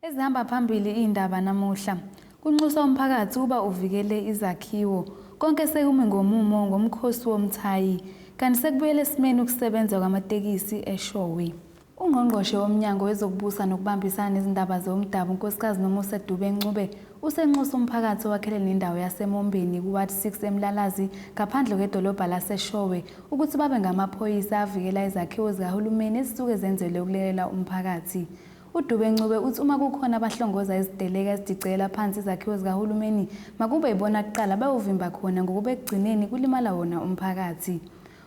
Ezihamba phambili iy'ndaba namuhla kunxusa umphakathi ukuba uvikele izakhiwo konke sekumi ngomumo ngomkhosi womthayi kanti sekubuyela esimeni ukusebenza kwamatekisi eshowe UNgqongqoshe woMnyango wezokuBusa nokuBambisana nezindaba zeOmdabu uNkosikazi Nomusa Dube-Ncube usenxuse umphakathi owakhele nendawo yaseMombeni kuWard 6 eMlalazi ngaphandle kwedolobha laseShowe ukuthi babe ngamaphoyisa avikela izakhiwo zikahulumeni ezisuke zenzelwe ukulekelela umphakathi. UDube-Ncube uthi uma kukhona abahlongoza iziteleka ezidicekela phansi izakhiwo zikahulumeni makube yibona kuqala bayovimba khona ngokuba ekugcineni kulimala wona umphakathi.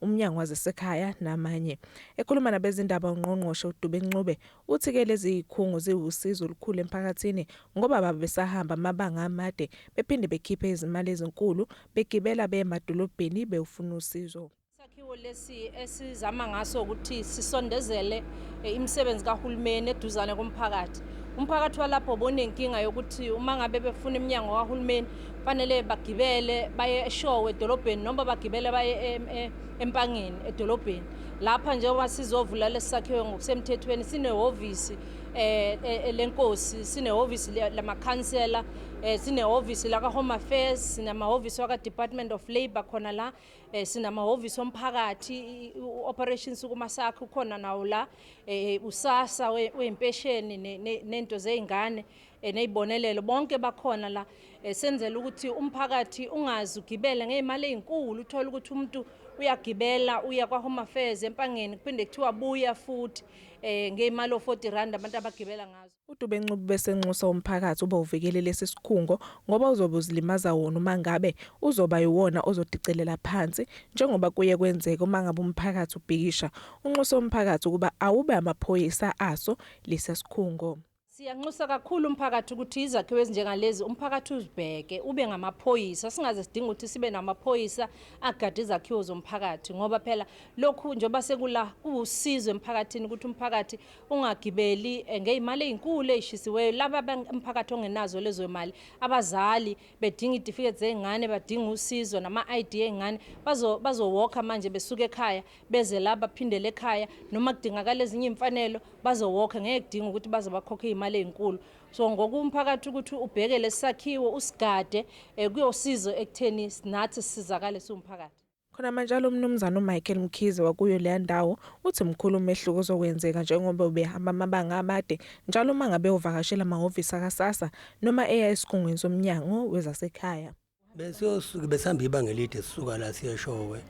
uMnyango wazeseKhaya namanye. Ekhuluma nabezindaba uNgqongqoshe uDube Ncube uthi ke lezi yikhungo ziwusizo olukhulu emphakathini ngoba baba besahamba amabanga amade bephinde bekhiphe izimali ezinkulu begibela beye emadolobheni bewufuna usizo. Isakhiwo lesi esizama ngaso ukuthi sisondezele eh, imisebenzi kahulumeni eduzane komphakathi. Umphakathi walapho bonenkinga yokuthi uma ngabe befuna iminyango kahulumeni fanele bagibele baye eshowe edolobheni noma bagibele baye e, empangeni edolobheni lapha njengoba sizovula lesi sakhiwo ngokusemthethweni sinehhovisi eh, eh, eh lenkosi sinehhovisi lamakhansela eh, sinehhovisi laka-home affairs sinamahhovisi waka-department of labour khona la eh, sinamahhovisi omphakathi u-operation sukumasakhe ukhona nawo la eh, usasa wey'mpesheni nento zey'ngane Eh, nezibonelelo bonke bakhona la eh, senzela ukuthi umphakathi ungazi ugibele ngeyimali ezinkulu uthola ukuthi umuntu uyagibela uya kwa Home Affairs empangeni kuphinde kuthiwa buya futhi eh ngeyimali o40 rand abantu abagibela ngazo uDube Ncubu besenxusa umphakathi uba uvikele lesi sikhungo ngoba uzobe uzilimaza wona uma ngabe uzoba yiwona ozodicelela phansi njengoba kuye kwenzeka uma ngabe umphakathi ubhikisha unxusa umphakathi ukuba awube amaphoyisa aso lesi sikhungo Siyanxusa kakhulu umphakathi ukuthi izakhiwo ezinjengalezi umphakathi uzibheke ube ngamaphoyisa singaze sidinga ukuthi sibe namaphoyisa agade izakhiwo zomphakathi ngoba phela lokhu njengoba sekula kuwusizo emphakathini ukuthi umphakathi ungagibeli eh, ngeyimali ezinkulu ezishisiweyo laba umphakathi ongenazo lezo imali abazali bedinga idifiketi zeingane badinga usizo nama ID eingane bazo bazowoka manje besuka ekhaya beze la baphindele ekhaya noma kudingakala ezinye imfanelo bazowokhe ngeke kudinga ukuthi baze bakhokhe imali ezinkulu so ngokumphakathi ukuthi ubheke lesakhiwo usigade eh, kuyosiza ekutheni nathi sizakale siwumphakathi Khona manje lo mnumzane uMichael Mkhize wakuyo leya ndawo uthi mkhulu umehluko ozokwenzeka njengoba ubehamba amabanga amade njalo uma ngabe uvakashela amahhovisi akaSASSA noma eya esikhungweni somnyango wezasekhaya. besiyosuke besihamba ibanga elide sisuka la siyeshowe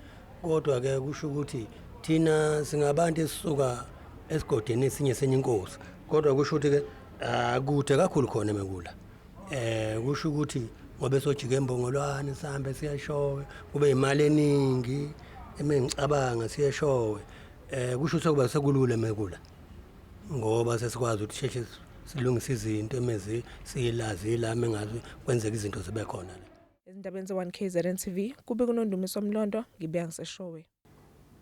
kodwa-ke kusho ukuthi thina singabantu esisuka esigodini esinye senye inkosi kodwa kusho ukuthi-ke akude kakhulu khona emekula eh kusho ukuthi ngobe sojika embongolwane sihambe siyeshowe kube imali eningi emengicabanga siyeshowe eh kusho ukuthi kuba sekulula emekula ngoba sesikwazi ukuthi sheshe silungise izinto emezi siyilazi ilami engazi kwenzeka izinto zibe khona la ezindabeni ze-1 kzn tv kube kunondumiso mlondo ngibuya ngiseshowe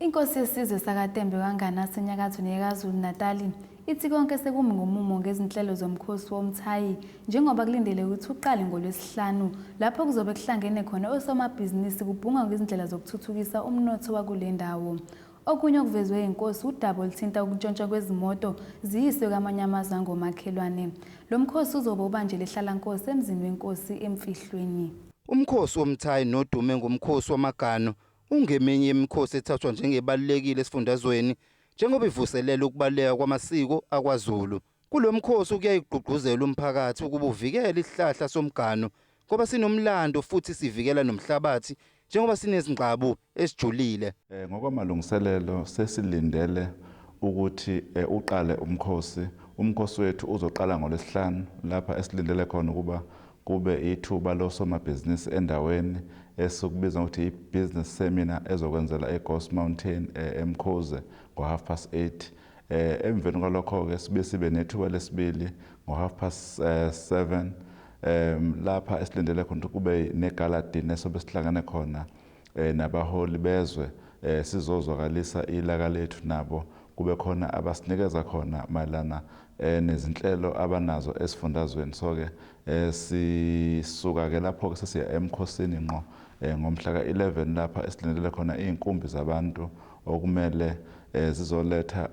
Inkosi yesizwe sakaTembe kaNgane asenyakazweni yeKwaZulu-Natali ithi konke sekumi ngomumo ngezinhlelo zomkhosi womthayi njengoba kulindele ukuthi uqale ngoLwesihlanu lapho kuzobe kuhlangene khona osomabhizinisi kubhungwa ngezindlela zokuthuthukisa umnotho wakule ndawo. Okunye okuvezwe yinkosi wudaba oluthinta ukuntshontshwa kwezimoto ziyiswe kwamanye amazwe angomakhelwane. Lo mkhosi uzobe ubanjelwa ehlalankosi emzini wenkosi eMfihlweni. Umkhosi womthayi nodume ngomkhosi wamaganu ungeminye yemikhosi ethathwa njengebalulekile esifundazweni njengoba ivuselela ukubaluleka kwamasiko akwaZulu. Kulo mkhosi kuyaye kugqugquzelwe umphakathi ukuba uvikele isihlahla somganu ngoba sinomlando futhi sivikela nomhlabathi njengoba sinezingqabu esijulile. Eh, ngokwamalungiselelo sesilindele ukuthi eh, uqale umkhosi. Umkhosi wethu uzoqala ngoLwesihlanu lapha esilindele khona ukuba kube ithuba losomabhizinisi endaweni esikubiza ngokuthi i-business seminar ezokwenzela eGhost Mountain eh, eMkhuze ngo-half past eight. Eh, emveni kwalokho-ke sibe sibe nethuba lesibili ngo-half past eh, seven um lapha esilindele khona ukuthi kube negaladini esobe sihlangane khona um nabaholi bezwe um sizozwakalisa ilaka lethu nabo kube khona abasinikeza khona mayelana um nezinhlelo abanazo esifundazweni so-ke um sisuka-ke lapho-ke sesiya emkhosini ngqo um ngomhla ka-11 lapha esilindele khona iy'nkumbi zabantu okumele zizoletha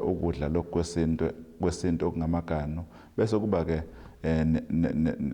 ukudla lokhu kwesintu kwesintu okungamaganu bese kuba ke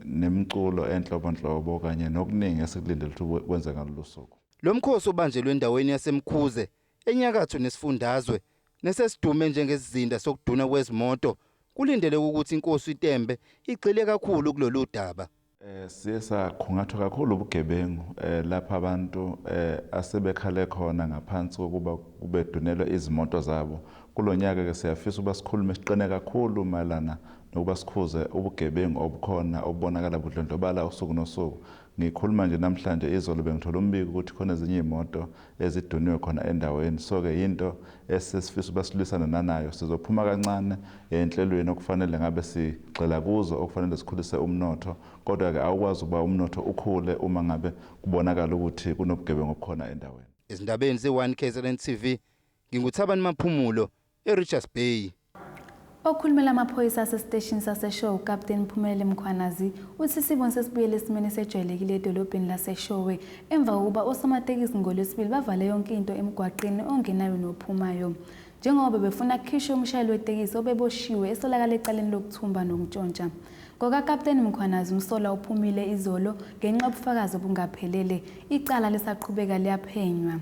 nemculo enhlobonhlobo kanye nokuningi esikulindele ukuthi kwenze ngalolu suku. Lo mkhosi obanjelwe endaweni yaseMkhuze enyakatho nesifundazwe nesesidume njengesizinda sokudunwa kwezimoto kulindeleke ukuthi iNkosi uTembe igxile kakhulu kulolu daba. Eh, siye saqhungathwa kakhulu ubugebengu eh, lapho abantu eh, asebekhale khona ngaphansi kokuba kubedunelwe izimoto zabo kulo nyaka ke siyafisa ukuba sikhulume siqine kakhulu mayelana nokuba sikhuze ubugebengu obukhona obubonakala budlondlobala usuku nosuku ngikhuluma nje namhlanje izolo bengithola umbiko ukuthi khona ezinye iy'moto eziduniwe khona endaweni so ke yinto esesifisa ukuba silwisane nanayo sizophuma kancane enhlelweni okufanele ngabe sigxila kuzo okufanele sikhulise umnotho kodwa ke awukwazi ukuba umnotho ukhule uma ngabe kubonakala ukuthi kunobugebengu obukhona endaweni Ezindabeni ze-One KZN TV, nginguThabani Maphumulo, eRichards Bay. Okhulumela amaphoyisa asesiteshini saseShowe uKapteni Mphumelele Mkhwanazi uthi isiboni sesibuyele esimeni esejwayelekile edolobheni laseShowe emva kokuba osomatekisi ngoLwesibili bavale yonke into emgwaqeni ongenayo nophumayo njengoba bebefuna kukhishwe umshayeli wetekisi obeboshiwe esolakala ecaleni lokuthumba nokuntshontsha. NgokaKapteni Mkhwanazi umsola uphumile izolo ngenxa yobufakazi obungaphelele, icala lisaqhubeka liyaphenywa.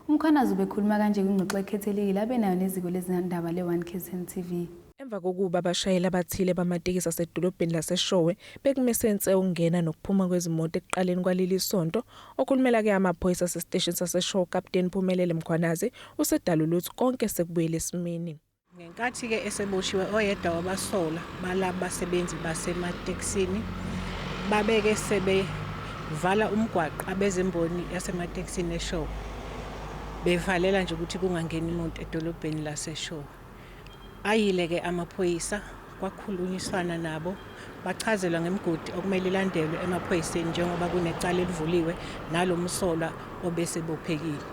UMkhwanazi ubekhuluma kanje kwingxoxo ekhethekile abe nayo neziko lezindaba le-One KZN TV. Emva kokuba abashayeli abathile bamatekisi asedolobheni laseShowe bekumesense ukungena nokuphuma kwezimoto ekuqaleni kwaleli sonto, okhulumela ke amaphoyisa asesiteshini saseShowe uKapteni Phumelele Mkhwanazi usedalule ukuthi konke sekubuyele esimeni. Ngenkathi-ke eseboshiwe oyedwa wabasolwa balaba basebenzi basematekisini babeke sebevala umgwaqo abezimboni yasematekisini eShowe bevalela nje ukuthi kungangeni muntu edolobheni laseShowe. Ayile-ke amaphoyisa Kwakhulunyiswana nabo bachazelwa ngemigodi okumele ilandelwe emaphoyiseni njengoba kunecala elivuliwe nalo msolwa obesebophekile.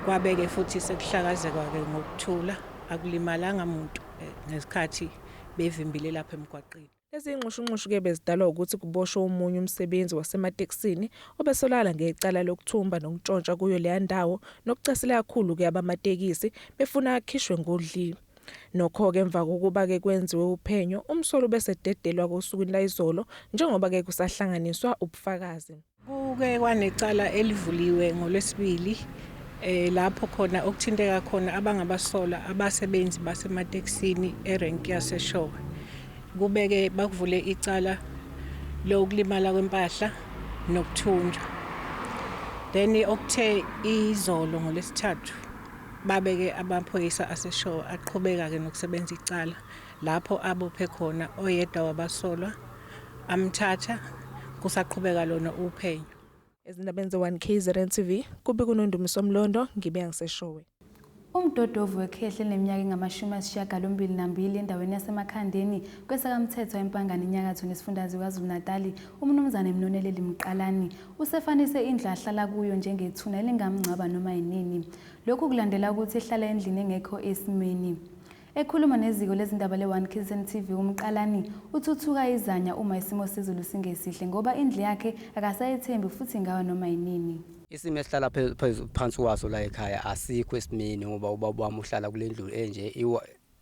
Kwabeke futhi sekuhlakazekwa-ke ngokuthula akulimalanga muntu eh, ngesikhathi bevimbile lapha emgwaqeni. Lezi nxushunxushu-ke bezidalwa wukuthi kuboshwe omunye umsebenzi wasematekisini obesolakala ngecala lokuthumba nokuntshontsha kuyo leya ndawo nokucasela kakhulu-ke abamatekisi befuna akhishwe ngodlile. Nokho-ke emva kokuba-ke kwenziwe uphenyo, umsolwa ubesededelwa-ke osukwini layizolo njengoba-ke kusahlanganiswa ubufakazi. Kuke kwanecala elivuliwe ngoLwesibili lapho khona okuthinteka khona abangabasolwa abasebenzi basematekisini erenki yaseShowe. Kube-ke bakuvule icala lokulimala kwempahla nokuthunjwa. Then okuthe izolo ngoLwesithathu Babeke amaphoyisa aseshowe aqhubeka ke nokusebenza icala lapho abophe khona oyedwa wabasolwa amthatha kusaqhubeka lona uphenyo. Ezindabeni ze-1 KZN TV, kubi kuNondumiso Mlondo, ngibe ngiseshowe. Umdodovu wekhehla elineminyaka engamashumi ayisishiyagalombili nambili endaweni yaseMakhandeni, kweSakamthethwa, eMpangane Inyakatho nesifundazwe KwaZulu-Natali, uMnumzane Mnoneleli Mqalani, Usefanise indlu ahlala kuyo njengethuna elingamngcwaba noma yinini. Lokhu kulandela ukuthi ehlala endlini engekho esimeni. Ekhuluma neziko lezindaba le-One Killsen TV uMqalani uthuthuka izanya uma isimo sezulu singesihle ngoba indlu yakhe akasayethembi futhi ingawa noma yinini. Isimo esihlala phansi kwaso la ekhaya asikho esimeni ngoba ubaba wami uhlala kule ndlu enje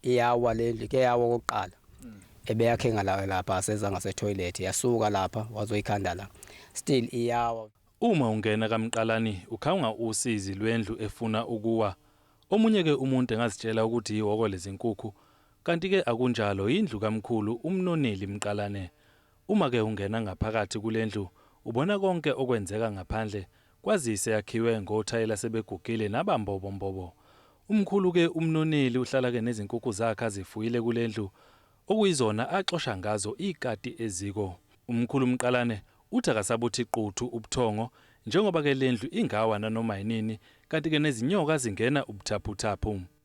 Iyawa lendlu ike yawa okokuqala mm. ebeyakhe ngalayo lapha aseza ngase toilet yasuka lapha wazoyikhanda la still iyawa Uma ungena kamqalani ukhawunga usizi lwendlu efuna ukuwa omunye ke umuntu engazitshela ukuthi yihoko lezinkukhu kanti ke akunjalo yindlu kamkhulu umnoneli mqalane Uma ke ungena ngaphakathi kulendlu ubona konke okwenzeka ngaphandle kwazise yakhiwe ngothayela sebegugile naba mbobo mbobo. Umkhulu ke umnoneli uhlala ke nezinkukhu zakhe azifuyile kulendlu okuyizona axosha ngazo ikati eziko. Umkhulu Mqalane uthi akasabuthi quthu ubuthongo njengoba ke lendlu ingawa nanoma yinini kanti ke nezinyoka zingena ubuthaphuthaphu.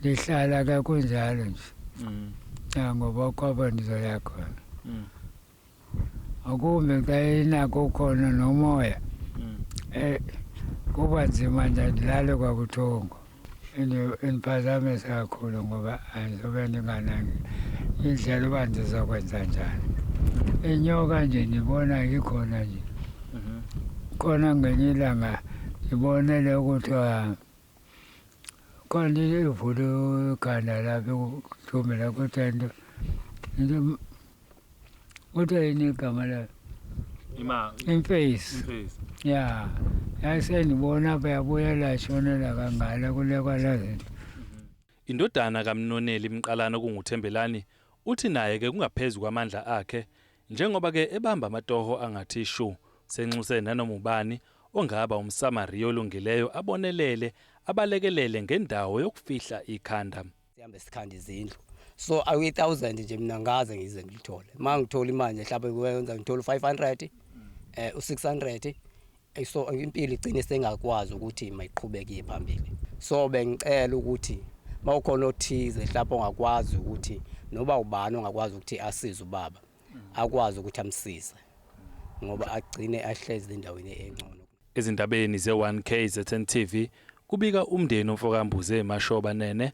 Ngihlala ke kunjalo nje. Mm. Ya ngoba kwaba ndizoya khona. Mm. Akumbe xa inako khona nomoya. Mm. Eh kuba nzima nje ndilale kwabuthongo. Indiphazamisa kakhulu ngoba andizobe ndinganangi indlela uba ndizokwenza njani. Inyoka nje ndibona ikhona nje. Mm-hmm. Khona ngenye ilanga ndibonele ukuthi Kanti ivule ikhanda lapho kuthumbe la kodwa into into kodwa yini igama layo ima imface imface ya yayisendibona apha yabuya lashonela kangala kule kwalazi nto Indodana kaMnoneli Mqalana okunguThembelani uthi naye ke kungaphezu kwamandla akhe Njengoba ke ebamba amatoho angathi shu, senxuse nanoma ubani ongaba umSamariya olungileyo abonelele, abalekelele ngendawo yokufihla ikhanda. Sihambe sikhanda izindlu. So I we thousand nje mina ngaze ngize ngilithole. Mangithola imanje mhlawumbe kuwenza ngithola u500 eh u600 Eyi so impilo igcine sengakwazi ukuthi mayiqhubeke iye phambili. So bengicela ukuthi mawukhona othize mhlawumbe ongakwazi ukuthi noba ubani ongakwazi ukuthi asize ubaba akwazi ukuthi amsize ngoba agcine ahlezi endaweni engcono. Ezindabeni ze-1KZN TV kubika umndeni omfokaMbuze Mashoba Nene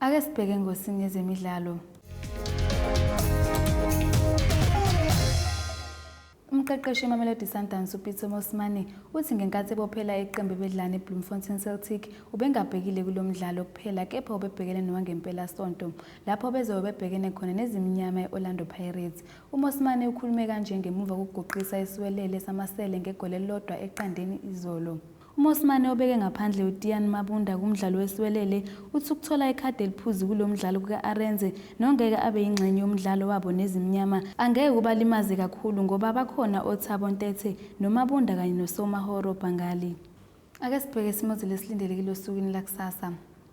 Ake sibheke ngosini yezemidlalo. Umqeqeshi weMamelodi Sundowns uPitso Mosimane uthi ngenkathi ebophela iqembu bedlana eBloemfontein Celtic ubengabhekile kulo mdlalo kuphela kepha ubebhekene nowangempela sonto lapho bezobe bebhekene khona nezimnyama e-Orlando Pirates. UMosimane ukhulume kanje ngemuva kokuguqisa isiwelele samasele ngegoli elilodwa eqandeni izolo. UMosimane obeke ngaphandle uTiaan Mabunda kumdlalo wesiwelele, uthi ukuthola ikhadi eliphuzi kulo mdlalo kuka-Arendse nongeke abe yingxenye yomdlalo wabo neZimnyama, angeke kubalimaze kakhulu ngoba bakhona oThabo Ntethe noMabunda kanye noSoumaoro Bangali. Ake sibheke isimo ezulu esilindelekile osukwini lakusasa.